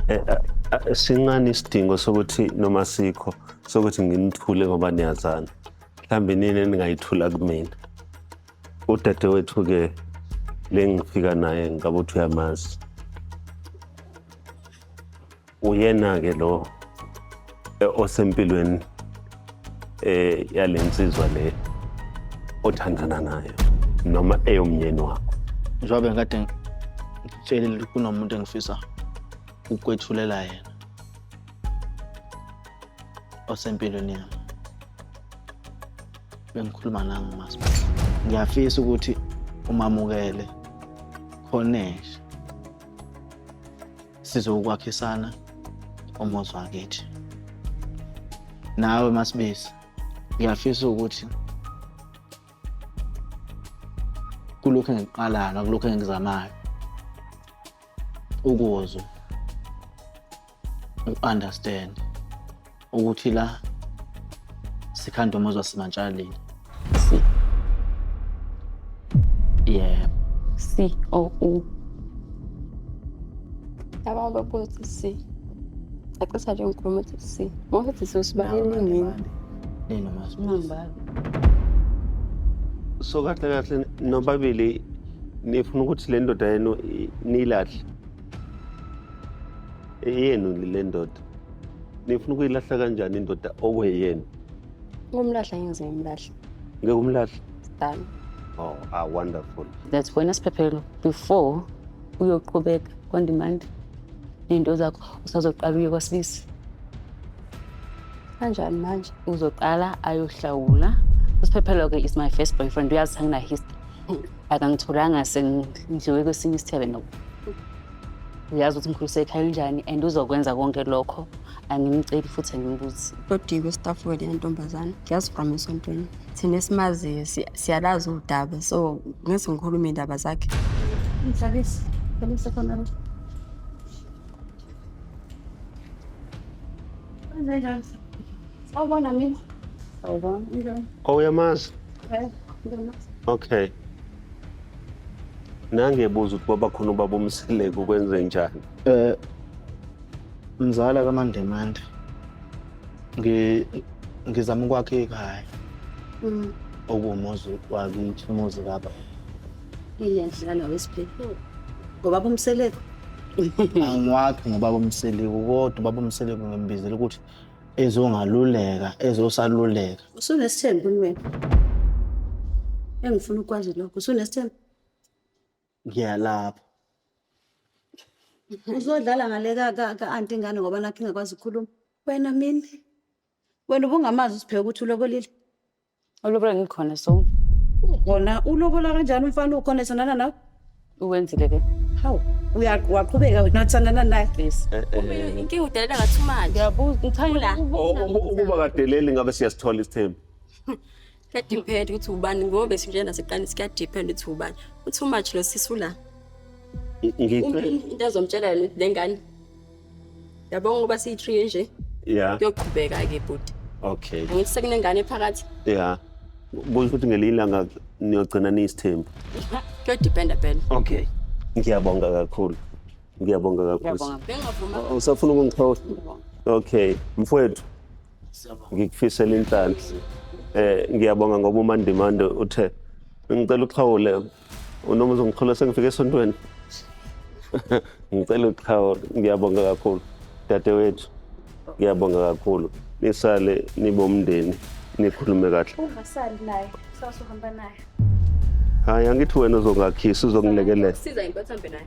Eh, eh, eh, sincane isidingo sokuthi noma sikho sokuthi nginithule ngoba niyazana mhlawumbe nini eningayithula kumina udadewethu-ke le ngifika naye ngabe uthi uyamazi uyena-ke lo eh, osempilweni eh yalensizwa le othandana nayo noma eyomnyeni wakho njengoba ngikade ngitshelile ukuthi kunomuntu engifisa ukwethulela yena osempilweni yami bengikhuluma nangu masi ngiyafisa ukuthi umamukele khonesha sizokwakhisana umuzi wakithi nawe masibisi ngiyafisa ukuthi kulokhu engikuqalayo nakulokhu engikuzamayo ukuzwa u-understand ukuthi la sikhanda umuzwa simantshalile si yeah c o u yaba babuthi si acisa nje ngikhuluma ukuthi si ngokuthi sosibalele nini nini masibali so kahle kahle nobabili nifuna ukuthi le ndoda yenu niyilahle yenu le ndoda nifuna ukuyilahla kanjani indoda okweyeni ukumlahla ngeze ngimlahla ngeke umlahla done oh ah wonderful that's wena siphephelo before uyoqhubeka on demand nento zakho usazoqala uye kwasibisi kanjani manje uzoqala ayohlawula usiphephelo ke is my first boyfriend uyazi angina history akangitholanga sengidliwe kwesinye isithebe noku uyazi ukuthi mkhulu sekhaya unjani and uzokwenza konke lokho angimceli futhi angimbuzi lodiko staff wele yantombazana ngiyazi from esontweni thina esimaziyo si- siyalazi udaba so ngeze ngikhulume iy'ndaba zakhe Mhlalisi, mhlalisi khona lo. Kwenzenjani? Sawubona mina. Sawubona. Unjani? Oh, uyamazi? Eh, ngibona. Okay. Nangebuza ukuthi baba khona ubaba umseleko kwenze njani? Eh mzala kaMandemande. Ngi ngizama ukwakha ikhaya. Mm. Okuwumuzi wakithi umuzi baba. Ilenhla la wesiphepho. Ngoba bomseleko. Angiwakhi ngoba bomseleko kodwa baba umseleko ngimbizela ukuthi ezongaluleka ezosaluleka usunesithembu wena engifuna ukwazi lokho usunesithembu ngiyalapha uzodlala ngale ka- ka- ka-anti ingane ngoba nakho ingakwazi ukukhuluma wena mina wena ubungamazi usibheke ukuthi uloko lile Ulobola ngikhona so. Kona ulobola kanjani umfana ukhona esonana nawe? Uwenzile ke. Hawu, uya waqhubeka wena uthandana naye. Please. Eh, eh, Inkinga udelela ngathi umanje. Ngiyabuza ngithanda o- ukubona. uma- Ukuba kadeleli ngabe siyasithola isithembu. Kuyadepend ukuthi ubani ngoba sinje naseqani sikuyadepend ukuthi ubani. Uthi umanje lo sisi ula. Ngi- Uma Ngicela into azomtshela yona ukuthi lengane yabonga ukuba siyi-three nje ya kuyoqhubeka-ke bhuti okay angithi sekunengane phakathi ya kusho ukuthi ngelinye ilanga niyogcina niyisithembu kuyodipenda phela okay ngiyabonga kakhulu ngiyabonga kakhulu ngiyabonga bengavuma Oh, usafuna ukungixola okay mfowethu ngikufisela inhlanhla eh ngiyabonga ngoba umandimande uthe ngicela uxhawule Unomzo ngithole sengifike esontweni. Ngicela uqhawe ngiyabonga kakhulu. Dadewethu ngiyabonga kakhulu. Nisale nibomndeni nikhulume kahle. Ungasali naye, sasuhamba naye. Hayi angithi wena uzongakhisa uzongilekelela. Siza impathambe naye.